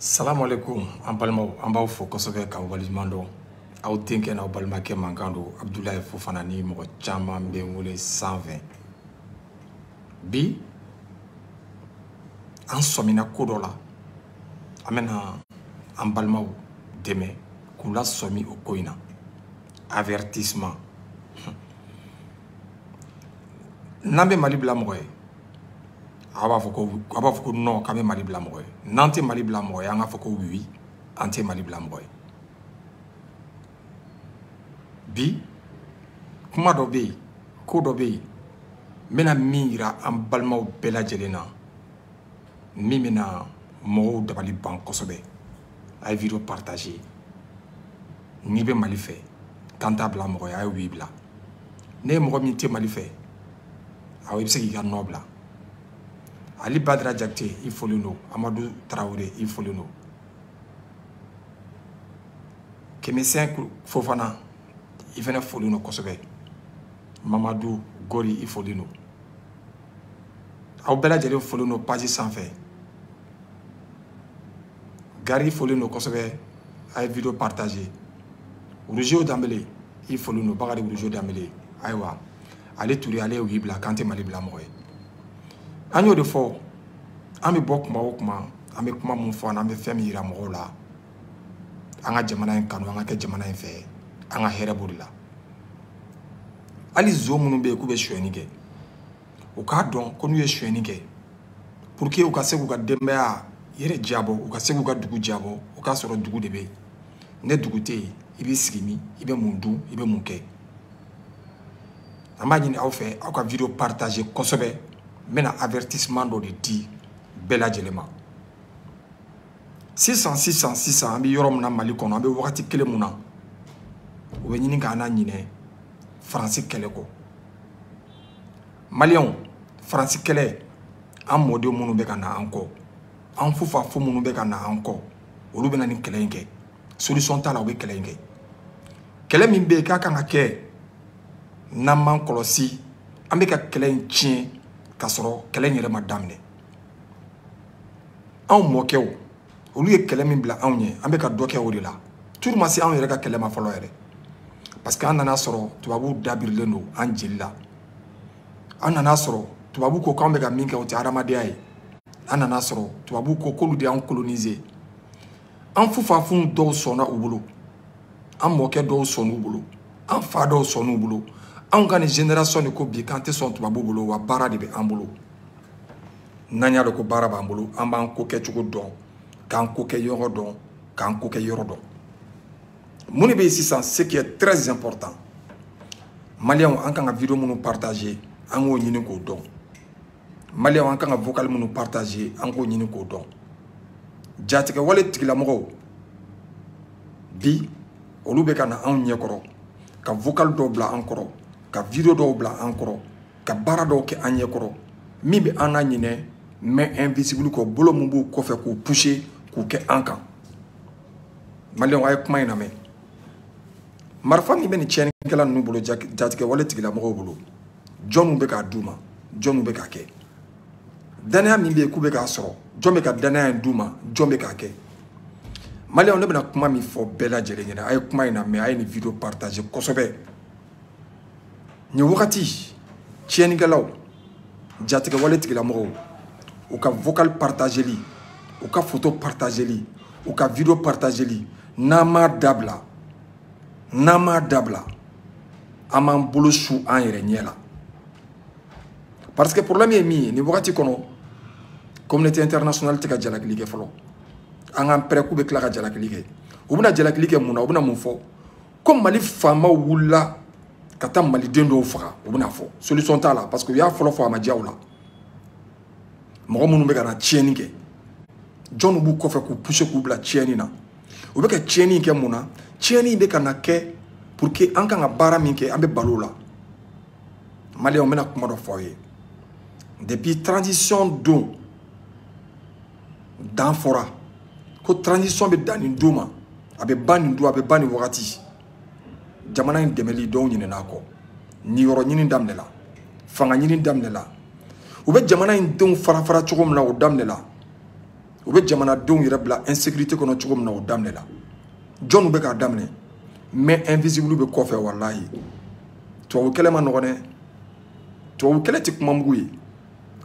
salamualeykum an balimaw an b'aw fo kosɛbɛ k'aw waleɲuman dɔn aw denkɛ n'aw balimakɛ mankan don abudulayi fofana ni mɔgɔ caman bɛ n wele sanfɛ bi an sɔmina ko dɔ la an bɛna an balimaw dɛmɛ k'u lasɔmi o ko in na avertissement n'an bɛ mali bila mɔgɔ ye aw b'a fɔ ko aw b'a fɔ ko non k'an bɛ mali bila mɔgɔ ye n'an tɛ mali bila mɔgɔ ye an k'a fɔ ko oui an tɛ mali bila mɔgɔ ye bi kuma dɔ bɛ yen ko dɔ bɛ yen n bɛna min yira an balimaw bɛɛ lajɛlen na min bɛna mɔgɔw dabali ban kosɛbɛ a ye video partage n'i bɛ mali fɛ k'an t'a bila mɔgɔ ye a ye oui bila ne ye mɔgɔ min tɛ mali fɛ aw i bɛ se k'i ka non bila ali badara jakite i folen don amadu tarawele i folen don kemisɛn fofana i fana folen don kosɛbɛ mamadu gori i folen don aw bɛɛ lajɛlen folen don paji sanfɛ gari i folen don kosɛbɛ a ye video partage wuruzew danbele i folen don bakari wuruzew danbele ayiwa ali ture ale ye oui bila k'an tɛ mali bila mɔgɔ ye an y'o de fɔ an bɛ bɔ kuma o kuma an bɛ kuma mun fɔ an na an bɛ fɛn min yira mɔgɔw la an ka jamana in kanu an ka kɛ jamana in fɛ an ka hɛrɛ b'o de la hali zon minnu bɛ yen k'u bɛ sonyɛni kɛ u k'a dɔn ko n'u ye sonyɛni kɛ pour que u ka se k'u ka denbaya yɛrɛ diyabɔ u ka se k'u ka dugu diyabɔ o k'a sɔrɔ dugu de bɛ yen ni dugu tɛ yen i b'i sigi min i bɛ mun dun i bɛ mun kɛ an b'a ɲini aw fɛ aw ka video partage kosɛbɛ n bɛna avertissement dɔ de di bɛɛ lajɛlen ma sisan sisan sisan an bɛ yɔrɔ min na mali kɔnɔ an bɛ wagati kelen mun na o bɛ ɲini k'an naɲinɛ faransi kɛlɛ kɔ maliyɛnw faransi kɛlɛ an mɔden minnu bɛ ka na an kɔ an fufafu minnu bɛ ka na an kɔ olu bɛna nin kɛlɛ in kɛ solution t'a la u bɛ kɛlɛ in kɛ kɛlɛ min bɛ yen ka kan ka kɛ n'an m'an kɔlɔsi an bɛ ka kɛlɛ in tiɲɛ k'a sɔrɔ kɛlɛ in yɛrɛ ma daminɛ anw mɔkɛw olu ye kɛlɛ min bila anw ye an bɛ ka dɔ kɛ o de la turu ma se anw yɛrɛ ka kɛlɛ ma fɔlɔ yɛrɛ parce que an nana a sɔrɔ tubabuw dabirilen don an jeli la an nana a sɔrɔ tubabu ko k'an bɛ ka min kɛ o tɛ hadamadenya ye an nana a sɔrɔ tubabu ko k'olu de y'an kolonize an fufafunw dɔw sɔnna u bolo an mɔkɛ dɔw sɔnn'u bolo an fa dɔw sɔnn'u bolo anw ka nin génération de ko bi k'an tɛ sɔn tubabu bolo wa baara de bɛ an bolo n'an y'a dɔn ko baara b'an bolo an b'an ko kɛcogo dɔn k'an ko kɛɲɔgɔn dɔn k'an ko kɛ yɔrɔ dɔn mun de bɛ yen sisan ce qui est très important maliyɛnw an kan ka video minnu partager an k'o ɲini k'o dɔn maliyɛnw an kan ka vocal minnu partager an k'o ɲini k'o dɔn jatigɛwale tigilamɔgɔw bi olu bɛ ka na anw ɲɛkɔrɔ ka vocal dɔw bila an kɔrɔ ka video dɔw bila an kɔrɔ ka baara dɔw kɛ an ɲɛkɔrɔ min bɛ an naɲinɛ main invisible kɔ bolo min b'u kɔfɛ k'u pousser k'u kɛ an kan maliyɛnw a ye kuma in lamɛn marifa min bɛ nin tiɲɛnikɛla ninnu bolo jatigɛwale tigilamɔgɔw bolo jɔni bɛ k'a d'u ma jɔni bɛ k'a kɛ danaya min bɛ yen k'u bɛ k'a sɔrɔ jɔn bɛ ka danaya in d'u ma jɔn bɛ k'a kɛ maliyɛnw ne bɛna kuma min fɔ bɛɛ lajɛlen ɲɛna a ye kuma in lamɛn a ye nin video partager kosɛbɛ nin wagati tiɲɛnikɛlaw jatigɛwale tigilamɔgɔw u ka vocal partageli u ka foto partageli u ka video partageli n'an m'a dabila n'an m'a dabila an b'an bolo su an yɛrɛ ɲɛ la parce que problème ye min ye nin wagati kɔnɔ communauté internationale tɛ ka jalakili kɛ fɔlɔ an k'an pɛrɛ k'u bɛ tila ka jalakili kɛ u bɛna jalakili kɛ mun na u bɛna mun fɔ ko mali faamaw wulila ka taa maliden dɔw faga u bɛna a fɔ solution t'a la parce que u y'a fɔlɔ fɔ a ma diya u la mɔgɔ minnu bɛ ka na tiɲɛni kɛ jɔnw b'u kɔfɛ k'u pousser k'u bila tiɲɛni na u bɛ ka tiɲɛni kɛ mun na tiɲɛni in bɛ ka na kɛ pour que an kan ka baara min kɛ an bɛ bal'o la maliyɛnw n bɛna kuma dɔ fɔ aw ye depuis transition don dan fɔra ko transition bɛ dan nin don ma a bɛ ban nin don a bɛ ban nin wagati jamana in dɛmɛli dɔw ɲinɛna a kɔ niyɔrɔ ɲini daminɛla fanga ɲini daminɛla u bɛ jamana in denw fara fara cogo min na o daminɛla u bɛ jamanadenw yɛrɛ bila insécurité kɔnɔ cogo min na o daminɛla jɔnw bɛ k'a daminɛ main invisible bɛ kɔfɛ walahi tubabu kɛlɛ man nɔgɔn dɛ tubabu kɛlɛ tɛ kuma mugu ye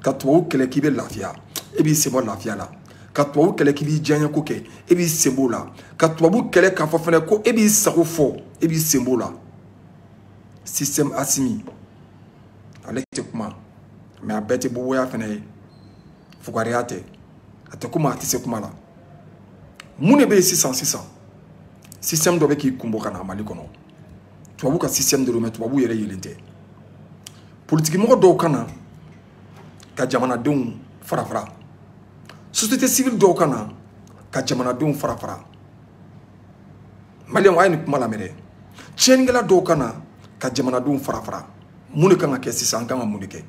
ka tubabu kɛlɛ k'i bɛ lafiya e b'i sen bɔ lafiya la ka tubabu kɛlɛ k'i b'i diyaɲɛ ko kɛ e b'i sen b'o la ka tubabu kɛlɛ k'a fɔ fɛnɛ ko e b'i sago fɔ e b'i sen b'o la système asimi ale tɛ kuma mais a bɛɛ tɛ boboya fɛnɛ ye fugariya tɛ a tɛ kuma a tɛ se kuma la mun de bɛ yen sisan sisan système dɔ bɛ k'i kunbɔ ka na mali kɔnɔ tubabu ka système de don mais tubabu yɛrɛ yelen tɛ politikimɔgɔ dɔw ka na ka jamanadenw fara fara société civile dɔw ka na ka jamanadenw fara fara maliyɛnw a ye nin kuma lamɛn dɛ tiɲɛnikɛla dɔw ka na ka jamanadenw fara fara mun de kan ka kɛ sisan an kan ka mun de kɛ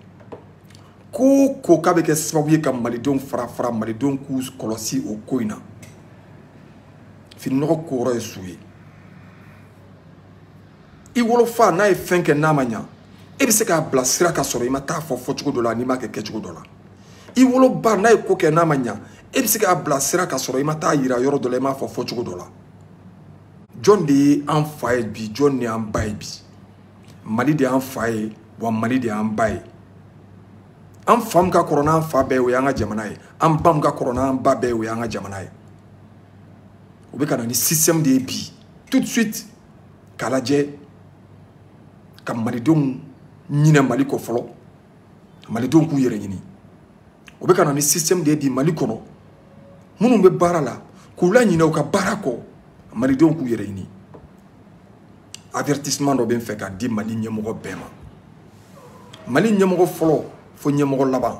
ko o ko k'a bɛ kɛ sababu ye ka malidenw fara fara malidenw k'u kɔlɔsi o ko in na fininɔgɔ koyɔrɔ ye so ye i wolofa n'a ye fɛn kɛ n'a ma ɲa e bɛ se k'a bila sira ka sɔrɔ i ma t'a fɔ fɔcogo dɔ la n'i m'a kɛ kɛcogo dɔ la i woloba n'a ye ko kɛ n'a ma ɲa e bɛ se k'a bila sira ka sɔrɔ i ma t'a yira yɔrɔ dɔ la i m'a fɔ fɔcogo dɔ la jɔn de ye an fa ye bi jɔn de y'an ba ye bi mali de y'an fa ye wa mali de y'an ba ye an fa min ka kɔrɔ n'an fa bɛɛ ye o y'an ka jamana ye an ba min ka kɔrɔ n'an ba bɛɛ ye o y'an ka jamana ye o bɛ ka na ni système de ye bi tout de suite k'a lajɛ ka malidenw ɲinɛ mali kɔ fɔlɔ malidenw k'u yɛrɛ ɲini o bɛ ka na ni système de ye bi mali kɔnɔ minnu bɛ baara la k'u laɲinɛ u ka baara kɔ malidenw k'u yɛrɛ ɲini avertissement dɔ bɛ n fɛ ka di mali ɲɛmɔgɔ bɛɛ ma mali ɲɛmɔgɔ fɔlɔ fo ɲɛmɔgɔ laban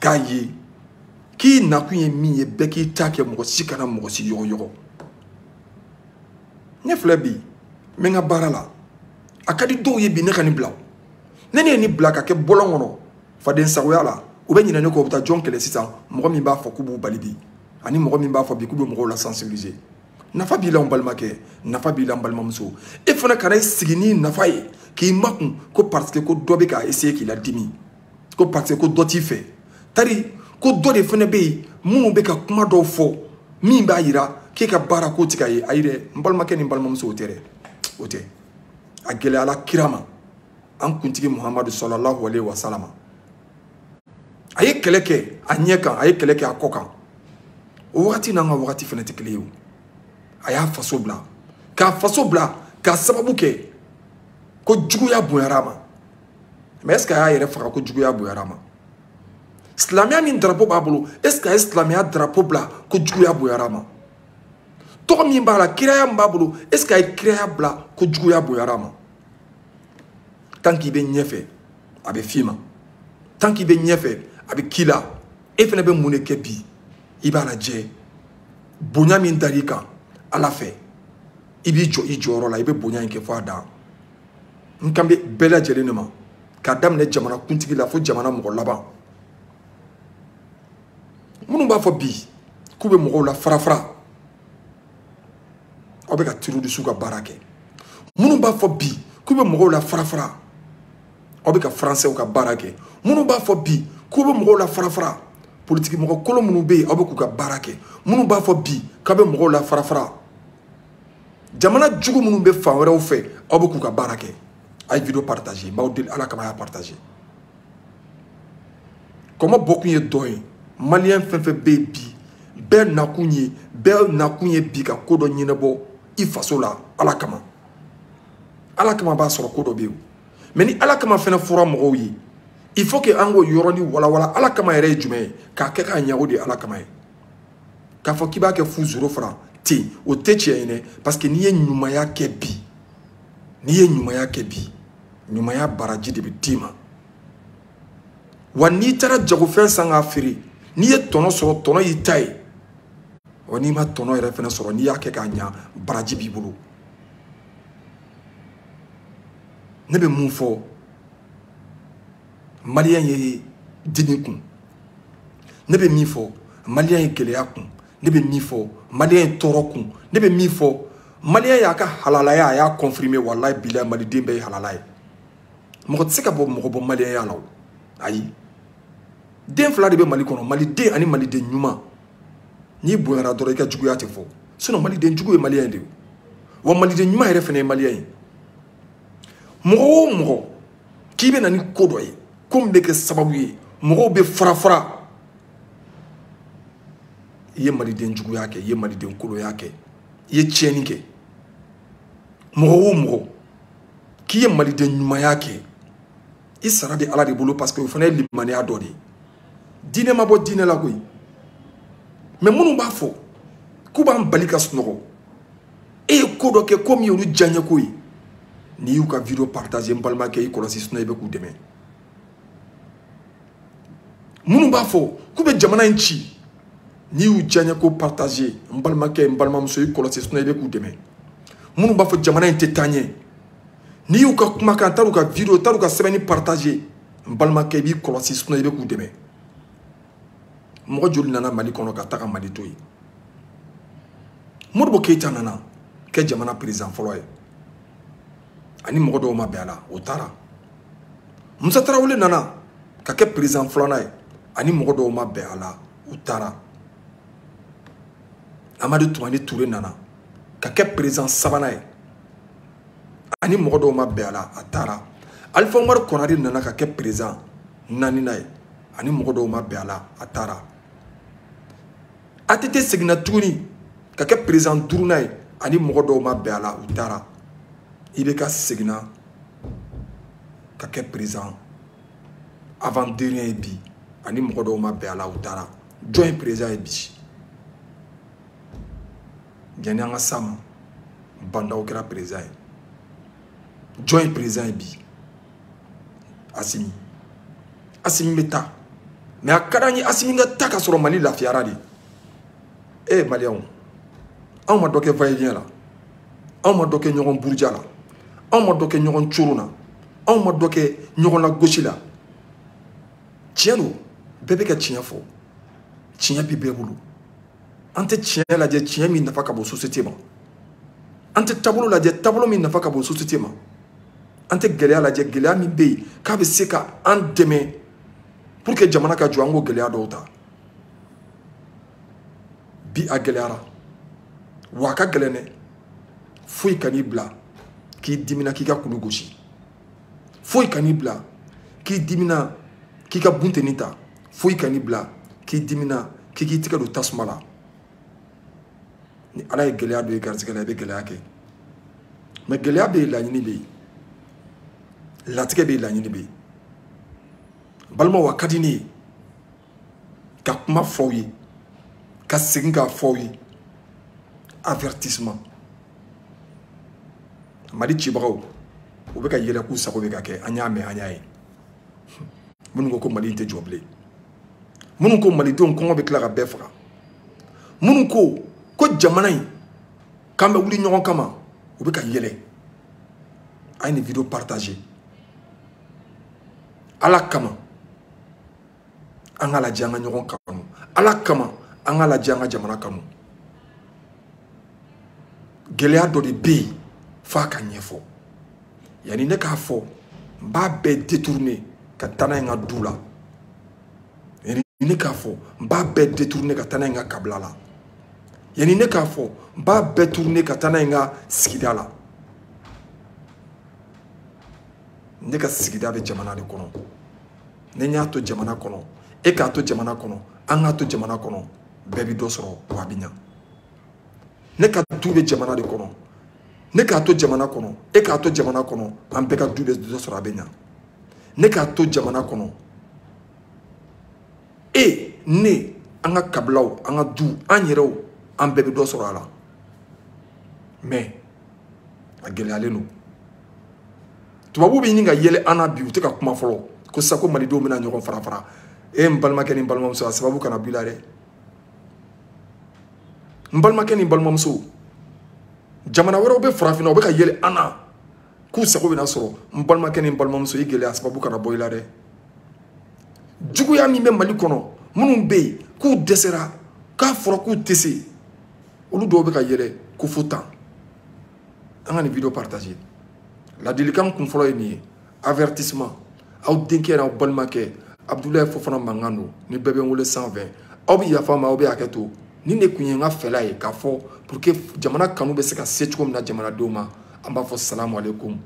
k'a ye k'i nakun ye min ye bɛɛ k'i ta kɛ mɔgɔ si kana mɔgɔ si yɔgɔyɔgɔ ne filɛ bi n bɛ n ka baara la a ka di dɔw ye bi ne ka nin bila ni ne ye nin bila ka kɛ bɔlɔn kɔnɔ faden sagoya la u bɛ ɲinɛ ne kɔ u bɛ taa jɔn kɛlɛ sisan mɔgɔ min b'a fɔ k'u b'u bali bi ani mɔgɔ min b'a fɔ bi k'u bɛ mɔgɔw la sensibiliser nafa b'i la n balimakɛ nafa b'i la n balimamuso e fana kana i sigi n'i nafa ye k'i makun ko parce que ko dɔ bɛ k'a essayer k'i ladimi ko parce que ko dɔ t'i fɛ tari ko dɔ de fana bɛ yen minnu bɛ ka kuma dɔw fɔ min b'a yira k'e ka baara ko ti ka ye ayi dɛ n balimakɛ ni n balimamuso o tɛ dɛ o tɛ a gɛlɛyala kira ma an kuntigi muhamadu sɔlɔlahu alehi wasalama a ye kɛlɛ kɛ a ɲɛ kan a ye kɛlɛ kɛ a kɔ kan o wagati n'an ka wagati fana tɛ kelen ye o a y'a faso bila k'a faso bila k'a sababu kɛ ko juguya bonyara a ma mais est ce que a y'a yɛrɛ faga ko juguya bonyara a ma silamɛya min drapo b'a bolo est ce que a ye silamɛya drapo bila ko juguya bonyara a ma tɔgɔ min b'a la kiraya min b'a bolo est ce que a ye kiraya bila ko juguya bonyara a ma tant k'i bɛ ɲɛfɛ a bɛ f'i ma tant k'i bɛ ɲɛfɛ a bɛ k'i la e fana bɛ mun de kɛ bi i b'a lajɛ bonya min dar'i kan ala fɛ i b'i jɔ i jɔyɔrɔ la i bɛ bonya in kɛ fo a dan n kan bɛ bɛɛ lajɛlen de ma k'a daminɛ jamana kuntigi la fo jamana mɔgɔ laban minnu b'a fɔ bi k'u bɛ mɔgɔw la farafara aw bɛ ka terrorisiw ka baara kɛ minnu b'a fɔ bi k'u bɛ mɔgɔw la farafara aw bɛ ka faransɛw ka baara kɛ minnu b'a fɔ bi k'u bɛ mɔgɔw la farafara politiki mɔgɔ kolon minnu bɛ yen aw bɛ k'u ka baara kɛ minnu b'a fɔ bi k'u bɛ mɔgɔw la farafara jamana jugu minnu bɛ fan wɛrɛw fɛ aw bɛ k'u ka baara kɛ a ye video partage n b'aw deli ala kama a y'a partage kɔmɔ bɔkun ye dɔ ye maliyɛn fɛn fɛn bɛ yen bi bɛɛ nakun ye bɛɛ nakun ye bi ka ko dɔ ɲɛnabɔ i faso la ala kama ala kama b'a sɔrɔ ko dɔ bɛ yen mais ni ala kama fɛnɛ fɔra mɔgɔw ye il faut que an k'o yɔrɔnin walawala ala kama yɛrɛ ye jumɛn ye k'a kɛ k'a ɲa o de ye ala kama ye k'a fɔ k'i b'a kɛ fu zéro franc ten o tɛ tiɲɛ ye dɛ parce que n'i ye ɲumanya kɛ bi n'i ye ɲumanya kɛ bi ɲumanya baraji de bɛ d'i ma wa n'i taara jagofɛn san k'a feere n'i ye tɔnɔ sɔrɔ tɔnɔ y'i ta ye wa n'i ma tɔnɔ yɛrɛ fana sɔrɔ n'i y'a kɛ k'a ɲa baraji b'i bolo ne bɛ mun fɔ maliyɛn ye dimi kun ne bɛ min fɔ maliyɛn ye gɛlɛya kun ne bɛ min fɔ maliyɛn ye tɔɔrɔ kun ne bɛ min fɔ maliyɛn y'a ka halalaya a y'a confirmer walayi bila maliden bɛɛ ye halala ye mɔgɔ tɛ se ka bɔ mɔgɔ bɔ maliyɛnya la o ayi den fila de bɛ mali kɔnɔ maliden ani maliden ɲuman n'i bonyara dɔrɔn i ka juguya tɛ fɔ sinon maliden jugu ye maliyɛn de ye wa maliden ɲuman yɛrɛ fana ye maliyɛn ye mɔgɔ o mɔgɔ k'i bɛ na ni ko dɔ ye ko min bɛ kɛ sababu ye mɔgɔw bɛ farafara i ye maliden juguya kɛ i ye maliden kolonya kɛ i ye tiɲɛni kɛ mɔgɔ o mɔgɔ k'i ye maliden ɲumanya kɛ i sara bɛ ala de bolo parce que o fana ye limaniya dɔ de ye diinɛ ma bɔ diinɛ la koyi mais minnu b'a fɔ k'u b'an bali ka sunɔgɔ e ye ko dɔ kɛ ko min y'olu diyaɲɛko ye n'i y'u ka video partage n balimakɛ i kɔlɔsi sinon i bɛ k'u dɛmɛ minnu b'a fɔ k'u bɛ jamana in ci n'i y'u diyaɲɛko partage n balimakɛ n balimamuso i kɔlɔsi sinon i bɛ k'u dɛmɛ minnu b'a fɔ jamana in tɛ taa ɲɛ n'i y'u ka kumakan wal'u ka video wal'u ka sɛbɛnni partage n balimakɛ i b'i kɔlɔsi sinon i bɛ k'u dɛmɛ mɔgɔ joli nana mali kɔnɔ ka taga mali to yen modibo keyita nana kɛ jamana perezan fɔlɔ ye ani mɔgɔ dɔw ma bɛn a la o taara musa tarawele nana ka kɛ perezan filanan ye ani mɔgɔ dɔw ma bɛn a la u taara amadu tumani ture nana ka kɛ perezan sabanan ye ani mɔgɔ dɔw ma bɛn a la a taara alifa umaru kɔnari nana ka kɛ perezan naaninan ye ani mɔgɔ dɔw ma bɛn a la a taara ATT seginna tuguni ka kɛ perezan duurunan ye ani mɔgɔ dɔw ma bɛn a la u taara IBK seginna ka kɛ perezan avant dernier ye bi ani mɔgɔ dɔw ma bɛn a la u taara jɔn ye perezan ye bi yanni an ka s'a ma ba ndaw kɛra perezan ye jɔn ye perezan ye bi asimi asimi bɛ taa mɛ a ka d'an ye asimi ka taa ka sɔrɔ mali lafiyara de e maliyɛnw anw ma dɔ kɛ vayiyɛn la anw ma dɔ kɛ ɲɔgɔn buruja la anw ma dɔ kɛ ɲɔgɔn coron na anw ma dɔ kɛ ɲɔgɔn lagosi la tiɲɛ don bɛɛ bɛ ka tiɲɛ fɔ tiɲɛ bɛ bɛɛ bolo an tɛ tiɲɛ lajɛ tiɲɛ min nafa ka bon société ma an tɛ taabolo lajɛ taabolo min nafa ka bon société ma an tɛ gɛlɛya lajɛ gɛlɛya min bɛ yen k'a bɛ se ka an dɛmɛ pour que jamana ka jɔ an k'o gɛlɛya dɔw ta bi a gɛlɛyara wa a ka gɛlɛn dɛ foyi kan'i bila k'i dimina k'i ka kulu gosi foyi kan'i bila k'i dimina k'i ka bunteni ta foyi kan'i bila k'i dimina k'i k'i tigɛ don tasuma la ni ala ye gɛlɛya don i garisigɛ la i bɛ gɛlɛya kɛ mɛ gɛlɛya bɛ yen laɲini bɛ yen latigɛ bɛ yen laɲini bɛ yen balimaw a ka di ne ye ka kuma f'aw ye ka segin k'a f'aw ye avertissement mali cibagaw u bɛ ka yɛlɛ k'u sago bɛ ka kɛ an y'a mɛn an y'a ye minnu ko ko mali tɛ jɔ bilen minnu ko malidenw kɔngɔ bɛ tila ka bɛɛ faga minnu ko ko jamana in k'an bɛ wuli ɲɔgɔn kama u bɛ ka yɛlɛ a ye nin vidéo partager ala kama an k'a lajɛ an ka ɲɔgɔn kanu ala kama an k'a lajɛ an ka jamana kanu gɛlɛya dɔ de bɛ yen f'a ka ɲɛfɔ yanni ne k'a fɔ n b'a bɛɛ détourner ka taa n'a ye n ka du la yanni ne k'a fɔ n b'a bɛɛ détourner ka taa n'a ye n ka kabila la yanni ne k'a fɔ n b'a bɛɛ tourner ka taa n'a ye n ka sigida la ne ka sigida bɛ jamana de kɔnɔ ne y'a to jamana kɔnɔ e k'a to jamana kɔnɔ an k'a to jamana kɔnɔ bɛɛ bɛ dɔ sɔrɔ wa a bɛ ɲa ne ka du bɛ jamana de kɔnɔ ne k'a to jamana kɔnɔ e k'a to jamana kɔnɔ an bɛɛ ka du bɛ dɔ sɔrɔ a bɛ ɲa ne k'a to jamana kɔnɔ e ne an ka kabilaw an ka du an yɛrɛw an bɛɛ bɛ dɔ sɔrɔ a la mais a gɛlɛyalen don tubabu bɛ ɲini ka yɛlɛ an na bi u tɛ ka kuma fɔlɔ k'u sago malidenw bɛna ɲɔgɔn farafara e n balimakɛ ni n balimamuso a sababu kana bɔ i la dɛ n balimakɛ ni balimamuso jamana wɛrɛw bɛ farafinna u bɛ ka yɛlɛ an na k'u sago bɛna sɔrɔ n balimakɛ ni n balimamuso i gɛlɛya sababu kana bɔ i la dɛ juguya min bɛ mali kɔnɔ minnu bɛ yen k'u dɛsɛra k'a fɔra k'u tɛ se olu dɔw bɛ ka yɛlɛ ko fo tan an ka nin vidéo partager ladilikan kun fɔlɔ ye nin ye avertissement aw denkɛ n'aw balimakɛ abudulayi fofana mankan don ni bɛɛ bɛ n wele sanfɛ aw bɛ yafa n ma aw bɛ hakɛ to nin de tun ye n ka fɛla ye k'a fɔ pour que jamana kanu bɛ se ka se cogo min na jamanadenw ma an b'a fɔ salamu aleykum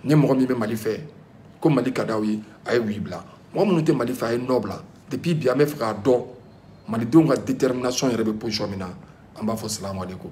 ni mɔgɔ min bɛ mali fɛ ko mali ka d'aw ye a ye oui bila mɔgɔ minnu tɛ mali fɛ a ye non bila depuis bi an b'a fɛ k'a dɔn malidenw ka détermination yɛrɛ bɛ position min na an b'a fɔ salamu aleykum